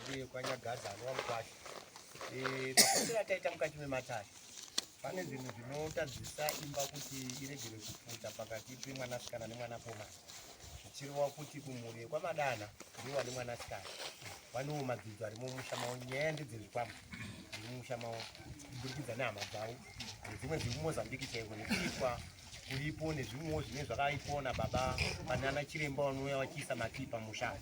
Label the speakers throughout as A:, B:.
A: uye kwanyagaza anova mukwasha eh, mafambiro ataita mukati mematare pane zvinhu zvinotadzisa imba kuti iregere kupfuta pakati pemwanasikana nemwanakomana zvichireva kuti kumhuri yekwamadana ndiwo ane mwanasikana vanewo madzidzo ari mumusha mavo nyaya ndedzezvikwama zviri mumusha mavo kuburikidza nehama dzavo nedzimwe dziri mumozambique chaiko nekuitwa uripo nezvimwewo zvinenge zvakaipiwa nababa kana ana chiremba vanouya vachiisa matii pamusha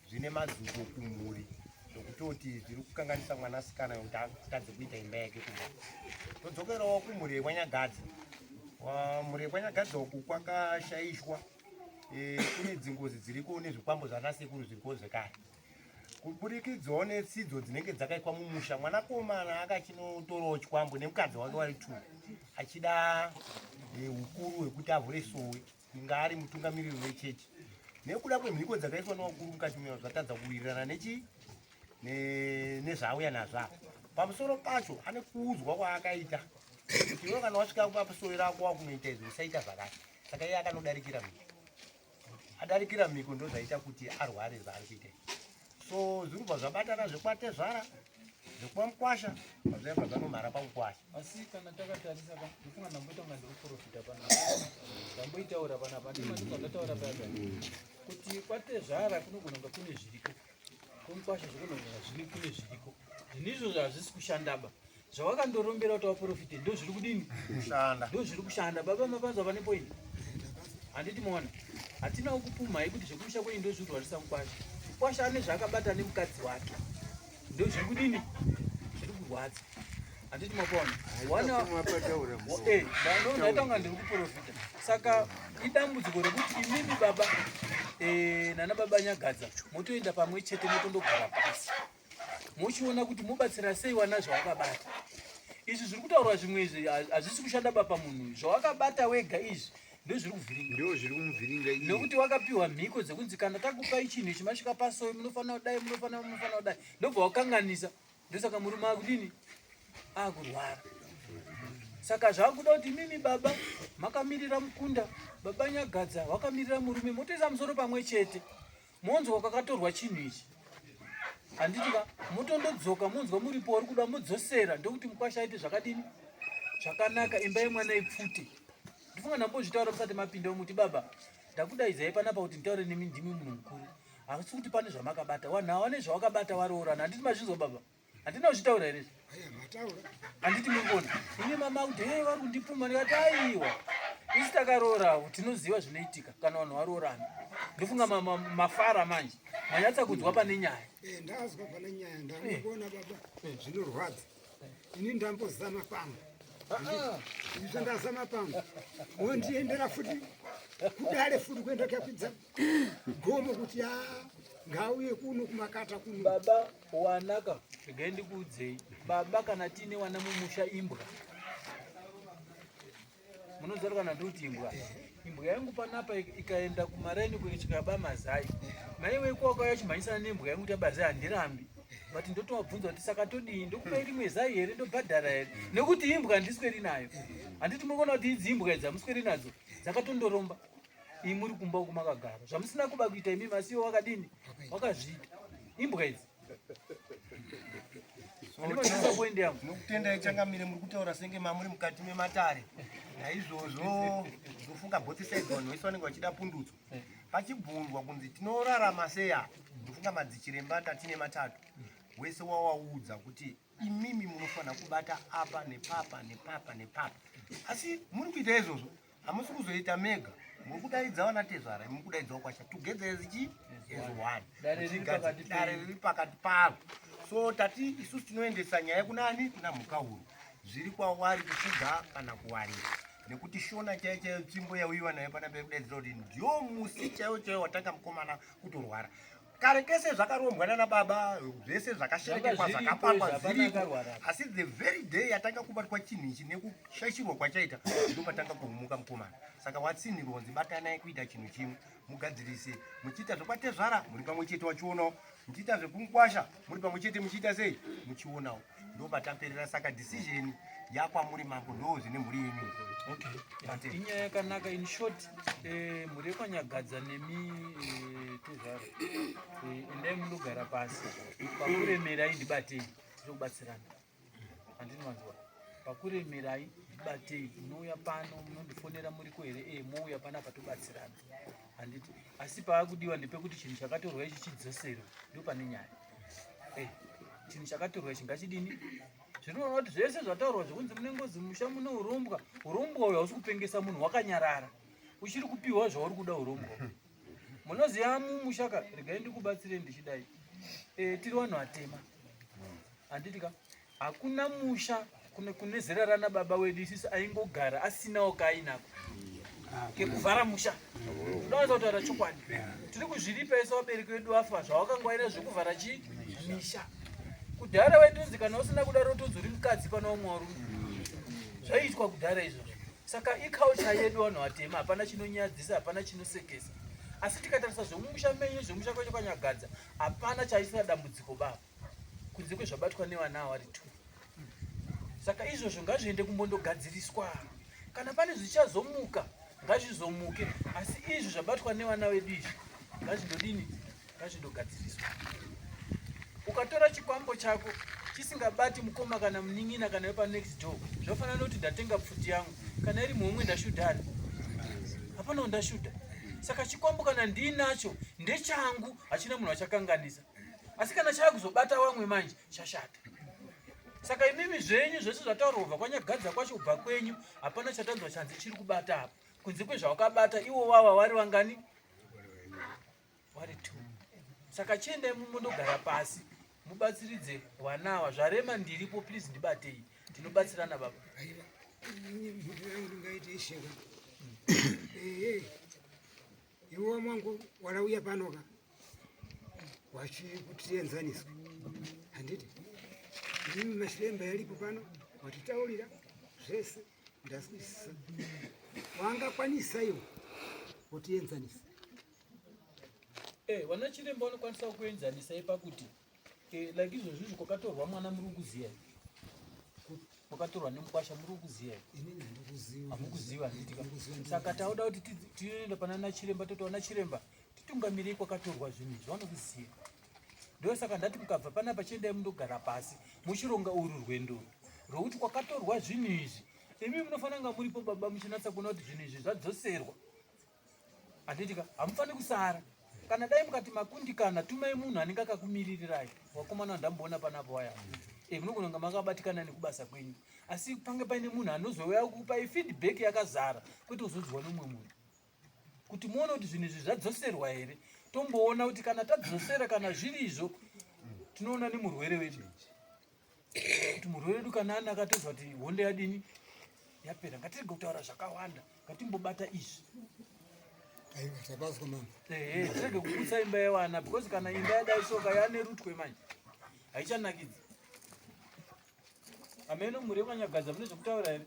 A: zvine mazuko kumhuri zvokutoti zviri kukanganisa mwanasikana yokuti atadze kuita imba yake kuma todzokerawo kumhuri yekwanyagadzi mhuri yekwanyagadzi uku kwakashaishwa e, kune dzingozi dziriko nezvikwambo zvanasekuru zviriko zvekare kuburikidzawo netsidzo dzinenge dzakaitwa mumusha mwanakomana akachinotorawo chikwambo nemukadzi wake wari two achida eh, ukuru hwekuti avhure sowe inga ari mutungamiriri wechechi nekuda kwemhiko dzakaiswa nevakuru mukati muyao zvatadza kuwirirana nechi nezvauya nazvavo pamusoro pacho ane kuudzwa kwaakaita kuti iwe kana wasvika papasowe rako wakunoita izvi usaita zvakati saka iye akanodarikira mhiko adarikira mhiko ndozvaita kuti arware zvaari kuita so zviri kubva zvabatana zvekwatezvara zvekuva mukwasha pazvaiva zvanomhara pakukwasha asi kana
B: takatarisa ndifunga ndamboita kunga ndiri kuprofita panapa ndamboitaura panapa ndimatikazataura paya kuti kwatezvara kunogona kunga kune zviriko kumukwasha zvokunogona zviri kune zviriko zvinizvo zvazvisi kushandaba zvawakandorombera kuti waprofite ndo zviri kudini kushanda ndo zviri
A: kushanda
B: baba mapanzwa vane point handiti mona hatinawo kupumhai kuti zvekumusha kwenyu ndo zviri kurwarisa mukwasha mukwasha ane zvaakabata nemukadzi wake ndo zviri kudini zviri kurwadza handiti mapona wanaonaitanga ndiri kuprofita saka idambudziko rekuti imimi baba eh, nana baba nyagadza motoenda pamwe chete motondogara pasi mochiona kuti mobatsira sei wana zvawakabata izvi zviri kutaurwa zvimwe izvi hazvisi kushanda bapa munhu zvawakabata wega izvi ndozviri kuvhiringa ndo zviri kumuvhiringa
C: izvi nokuti wakapiwa mhiko
B: dzekunzi kana takupai chinhu ichi masvika pasoyi munofanira kudai munofanira munofanira kudai ndobva wakanganisa ndosaka murume akudini akurwara saka zvakuda kuti mimi baba makamirira mukunda baba nyagadza wakamirira murume motoisa musoro pamwe chete Monzwa kwakatorwa chinhu ichi. Handiti ka motondodzoka monzwa muripo wari kuda modzosera ndokuti mukwasha aite zvakadini? Zvakanaka imba yemwana ipfute. Ndifunga ndambozvitaura musati mapinda muti baba ndakudaizai panapa kuti nditaure nemi ndimi munhu mukuru. Asi kuti pane zvamakabata. Wanhu awane zvawakabata waroorana. Handiti mazvinzwa baba? handina kuzvitaura here handiti murikuona ini mama kuti hei vari kundipfuma ndikati aiwa isi takaroorawo tinoziva zvinoitika kana vanhu varoorana ndofunga mafara manje manyatsa kunzwa pane nyaya eh, ndazwa pane
D: nyaya ndakuona eh. baba eh. zvinorwadza ini ndambozama pamwe ah, ah. izvo ndazama pamwe wondiendera futi kudare futi kuenda kakwidza gomo kuti a ah, ngauye kuno kumakata kuno baba Wanaka
B: regai ndikuudzei baba, kana tiine wana mumusha imbwa munozara kana ndoti imbwa imbwa yangu panapa ikaenda kumaraini kuchikaba mazai maiwe kwakauya chimhanyisana nembwa yangu kuti abazai handirambi but ndotovabvunza kuti saka todii ndokupa rimwe zai here ndobhadhara here nekuti imbwa handisweri nayo handiti munoona kuti idzi imbwa idzi hamusweri nadzo dzakatondoromba imi muri kumba uko makagara zvamusina kuba kuita imi masiwo wakadini wakazviita imbwa idzi ndinodisappointiyamunokutendayi changamire muri
A: kutaura senge mamuri mukati mematare naizvozvo ndofunga both sides vanhu vese vanenge vachida pundutso pachibvunzwa kunzi tinorarama seya ndofunga madzichiremba tatine matatu wese wawaudza kuti imimi munofanira kubata apa nepapa nepapa nepapa asi muri kuita izvozvo hamusi kuzoita mega muri kudaidza vana tezvara muri kudaidzawo kwasha together as chi as one dare riri pakati pavo so tati isusu tinoendesa nyaya kunani kuna mhukahuru zviri kwawari kufuga kana kuwarira nekuti shona chaiyo chaiyo tsvimbo yauyiwa nayo pana pekudaidzira kuti ndiyo musi chaiwo chaiwo watanga mukomana kutorwara kare kese zvakarombwa nana baba zvese zvakasherekekwa zvakapangwa zviriko asi the very day yatanga kubatwa chinhu ichi nekushaishirwa kwachaita ndo patanga kuhumuka mukomana saka watsini ronzi batanai kuita chinhu chimwe mugadzirise muchiita zvekwatezvara muri pamwe chete wachionawo muchiita zvekunkwasha muri pamwe chete muchiita sei muchionawo ndopataperera saka decision yakwamuri mambo ndo zvine mhuri yenyu okay.
B: inyaya yakanaka in short eh, mhuri yekwanyagadza nemi eh, tuzvaro eh, endai munogara pasi pakuremerai ndibatei tinokubatsirana andinwanzwa pakuremerai batei munouya pano munondifonera muriko here e mouya pano apa tobatsirana handiti asi paakudiwa ndepekuti chinhu chakatorwa ichi chidzoserwe ndo pane nyaya eh, chinhu chakaturwa ichi ngachidini zvinoona kuti zvese zvataurwa zvekunzi mune ngozi musha mune urombwa urombwa uyo hausi kupengesa munhu wakanyarara uchiri kupiwa zvauri kuda urombwa munoziva mumushaka regai ndikubatsire ndichidai eh, tiri vanhu vatema handiti ka Hakuna musha kune kune zera rana baba wedu isisu aingogara asinawo kaainako kekuvhara musha unowanza kutaura chokwadi tiri kuzviripa isu vabereki vedu vafa zvawakangwaira zvekuvhara chii misha kudhara waitonzi kana usina kudaro utonzi uri mukadzi pana umwe warume zvaiitwa kudhara izvozvo saka iculture yedu vanhu vatema hapana chinonyadzisa hapana chinosekesa asi tikatarisa zvemumusha menyu zvemusha kwedu kwanyagadza hapana chaisira dambudziko baba kunze kwezvabatwa nevana awari two saka izvozvo ngazviende kumbondogadziriswa kana pane zvichazomuka ngazvizomuke asi izvi zvabatwa nevana vedu izvi ngazvindodini ngazvindogadziriswa ukatora chikwambo chako chisingabati mukoma kana munin'ina kana wepa next door zvafanira nekuti ndatenga pfuti yangu kana iri muhomwe ndashudhani hapanawo ndashuda saka chikwambo kana ndiinacho ndechangu hachina munhu achakanganisa asi kana chava kuzobata wamwe manje chashata saka imimi zvenyu zvese zvataurwa kubva kwanyagadza kwacho kubva kwenyu hapana chatanzwa chanzi chiri kubata apa kunze kwezvawakabata iwo wava wari vangani wari t saka chiendai mumondogara pasi mubatsiridze wanawa zvarema ndiripo please ndibatei ndinobatsirana baba
D: Iwo mwangu warauya pano ka wachikutienzaniswa handiti imi mashiremba yalipo pano watitaurira zvese ndazwisisa wangakwanisa iwo kutienzanisa
B: eh, vanachiremba vanokwanisawo kuenzanisa ipa kuti Eh, like izvozvi izvi kwakatorwa mwana muri kuziva kwakatorwa nemukwasha muri kuziva hamukuziva saka tauda kuti tinoenda pana nachiremba toti wana chiremba titungamirei kwakatorwa zvinhu izvi vanokuziva ndosaka ndati mukabva panapa chiendai mundogara pasi muchironga uru rwendo rwekuti kwakatorwa zvinhu izvi imi munofanira kunga muripo baba muchinatsa kuona kuti zvinhu izvi zvadzoserwa Handitika hamufani kusara kana dai mukati makundikana tumai munhu anenge akakumiririrai wakomana wandamboona panapo waya e, munogona kunge makabatikana nekubasa kwenyu asi pange paine munhu anozouya kupai feedback yakazara kwete kuzonzwa nomwe munhu kuti muone kuti zvinhu izvi zvadzoserwa here tomboona kuti kana tadzosera kana zviri izvo tinoona nemurwere wedu kuti murwere wedu kana ana akatozwa kuti hondo yadini yapera ngatirege kutaura zvakawanda ngatimbobata izvi tirege kuputsa imba yevana because kana imba yadai soka yane rutwe manje haichanakidzi ameno mhuri yemanyagadza mune zvekutaura here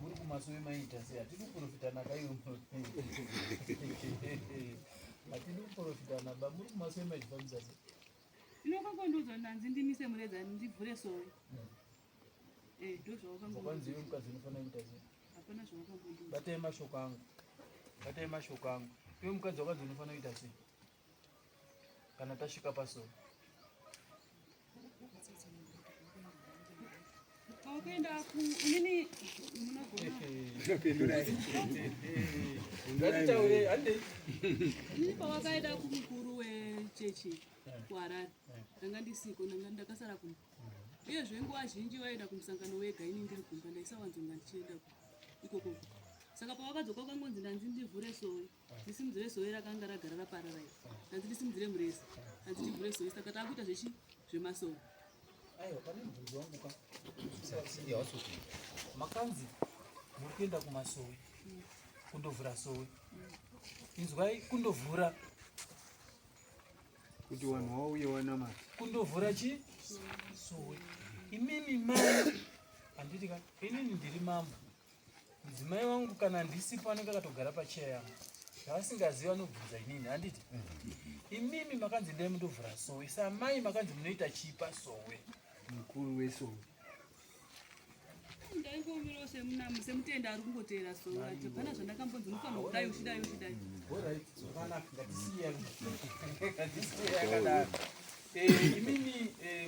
E: muri kumasowe
B: maita sei hatidi kuprofitana kaiwe hatidi kuprofitana ba muri kumasowe maifambisa sei inokakondodzwa
E: nanzi ndimise mureza ndivhure sowe hmm. eh, ndozvakwanzi iwe mukadzi unofanira
B: kuita sei hapana zvawakambondibatai mashoko angu batai mashoko angu iwe mukadzi wakadzi unofanira kuita sei kana tasvika paso
E: Wakaenda ku inini munogona.
C: Ndataure
B: hande. Inini
E: pawakaenda kumukuru wechechi kuHarare. Ndanga ndisiko ndanga ndakasara kumba. Uyezve nguva zhinji waienda kumusangano wega ini ndiri kumba ndaisawanzonga ndichienda ikoko. Saka pawakadzoka ukangonzi ndanzi ndivhure sori. ndisimudzire sowe rakanga ragara raparara iri hanzi ndisimudzire muresi hanzi tivhure sowe saka taakuita zvechi zvemasowe
B: aiwa pane mubvunzo wangu ka makanzi muri kuenda kumasowe kundovhura sowe inzwai kundovhura
C: kuti vanhu wauye wanamata kundovhura chi
B: sowe imimi mai handiti ka inini ndiri mambo Mudzimai wangu kana ndisipo anenge akatogara pacheya yangu zvaasingazivi anobvunza inini handiti imimi makanzi ndai mundovhura sowe samai makanzi munoita chipa sowe mukuru
C: wesowe
E: ndaingoomirawo semunamo semutenda ari kungoteera sowe atibvana zvandakambonzi
B: mufanira kudai uchidai uchidai imimi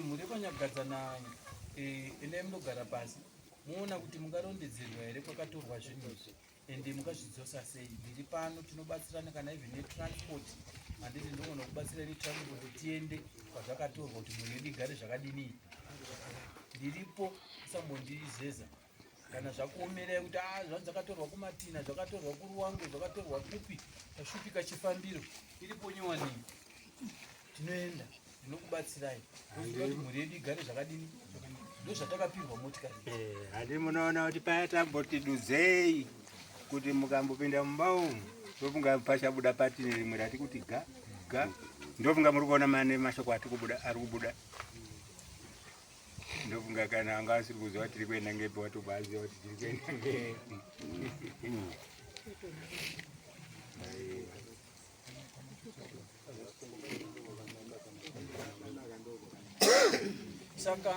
B: mhuri yekwanyagadza na ine munogara pasi Moona kuti mungarondedzerwa here kwakatorwa zvinhu izvi ende mukazvidzosa sei ndiri pano tinobatsirana kana even netransport handiti ndogona kubatsira netransport tiende kwazvakatorwa kuti munhu yedu igare zvakadini ndiripo usambondizeza kana zvakuomerei kuti a ah, zvanzi zvakatorwa kumatina zvakatorwa kuruwange zvakatorwa kupi tashupika chifambiro iripo nyowanii tinoenda ndinokubatsirai kuti mhuri yedu igare zvakadini ndozvatakapirwa motikari eh, handi munoona
C: kuti paya tamboti dudzei kuti mukambopinda mumba umu ndofunga pachabuda patine rimwe rati kuti ga ga ndofunga muri kuona mane mashoko ati kubuda ari kubuda ndofunga kana anga asiri kuziva kuti tiri kuenda ngepi watobaziva kuti tiri kuenda ngepi
B: saka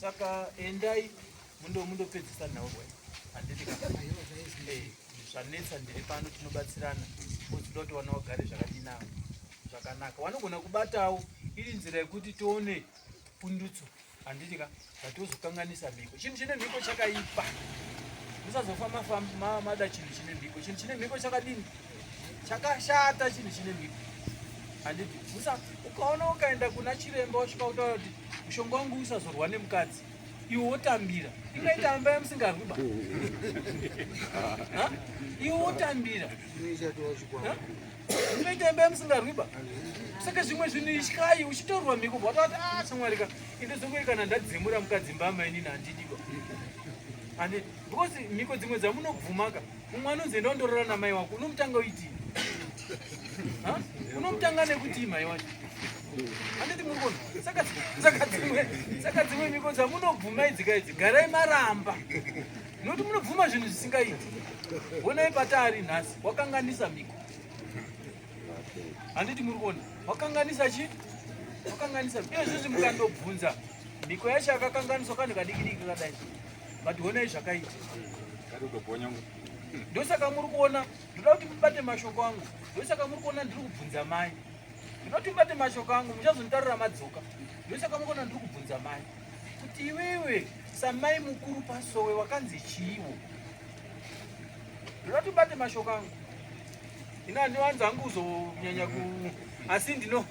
B: saka endai mundo mundopedzisa nhau bwana handiti eh, zvanetsa ndiri pano tinobatsirana uziva kuti wana wagare zvakadinavo zvakanaka wanogona kubatawo iri nzira yekuti tione pundutso Handiti ka zvatozokanganisa mhiko. Chinhu chine mhiko chakaipa. Musazofamba famba mada chinhu chine mhiko. Chinhu chine mhiko chakadini? Chakashata chinhu chine mhiko. Handiti musa ukaona ukaenda kuna chiremba wasvika utaura kuti mushonga wangu usazorwa nemukadzi iwe wotambira ingaita mba yamusingarwi ba iwe wotambira zvinoita imba yamusingarwiba saka zvimwe zvinhu ityai uchitorwa mhiko bva watavati a ah, shamwari ka into dzongoi kana ndadzimura mukadzi mba amainini handidiba and because mhiko dzimwe dzamunobvumaka mumwe anonzi enda undorora namai wako unomutanga uitii unomutanga nekutii mai wacho handiti murikona saka dzimwe mhiko dzamunobvuma idzika idzi garai maramba Noti munobvuma zvinhu zvisingaiti. Honai pataari nhasi, wakanganisa miko. Handiti muri kuona? Wakanganisa chi? Wakanganisa miko. Iye zvizvi mukandobvunza miko yacho yakakanganiswa kanhu kadikidiki kadai. But honai zvakaita. Ndosaka muri kuona, ndoda kuti mubate mashoko angu. Ndosaka muri kuona ndiri kubvunza mai. Ndinoti mubate mashoko angu, muchazonditarira madzoka. Ndosaka muri kuona ndiri kubvunza mai. kuti iwewe samai mukuru pasowe wakanzi chiiwo ndinoti bate mashoko angu ini andiwanzi angu kuzonyanya ku asi ndino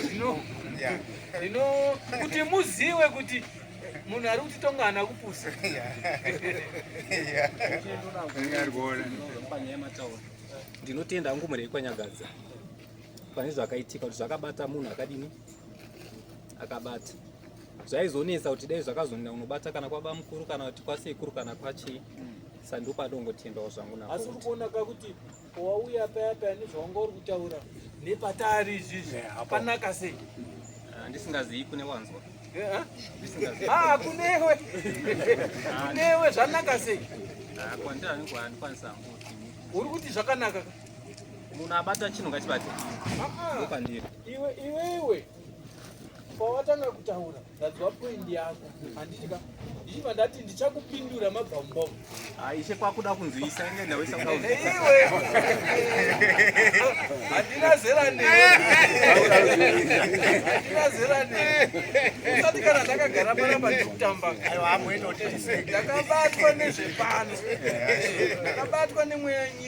B: ndino ndino kuti muziwe kuti munhu ari kuti tonga ana kupusa
F: ndinotenda hangu murei kwanyagadza pane zvakaitika kuti zvakabata munhu akadini akabata zvaizonetsa kuti dai zvakazonda unobata kana kwaba mukuru kana kuti kwasekuru kana kwachii mm. sandopadongotendawo zvangu na asi urikuona ka kuti
B: wauya paya paya nezvawanga uri kutaura nepatari izvizvi eh, hapanaka sei ah, ndisingazivi
F: kune wanzwa eh, eh? ah, kunewe
B: ah, kunewe
F: zvanaka sei uri kuti zvakanaka
B: munhu
F: abata chinhu ngachibate pandiri Iwe iwewe
B: pawatanga kutaura ndadzwa point yako handitika ndichiva ndati ndichakupindura mabvambom aishe kwakuda
F: kunzwisa inge ndaisa iwe
B: handina zera nehandina zera ne usati kana ndakagara panapa ndikutamba ndakabatwa nezvepano ndakabatwa nemweya nyika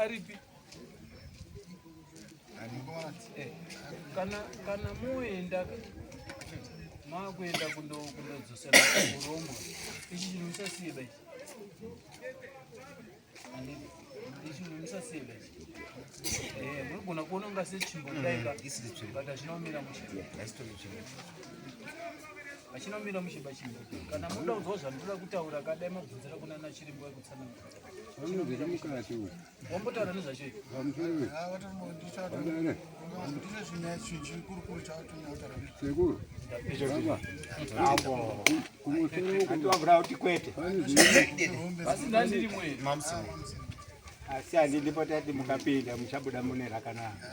B: aripi kana kana moenda makuenda kundodzosera kurombo ichi chinhu musasiye bai ichi chinhu musasiye bai eh, munogona kuona unga sechimbo kudaika mm, but achinomira muchimbo achinomira muchimba chimbo kana muda kuzwa zvandoda kutaura kadai mabvunzira kunana chirimbo yekutsanangura asi
C: handidi potati mukapinda muchabuda mune rakanaka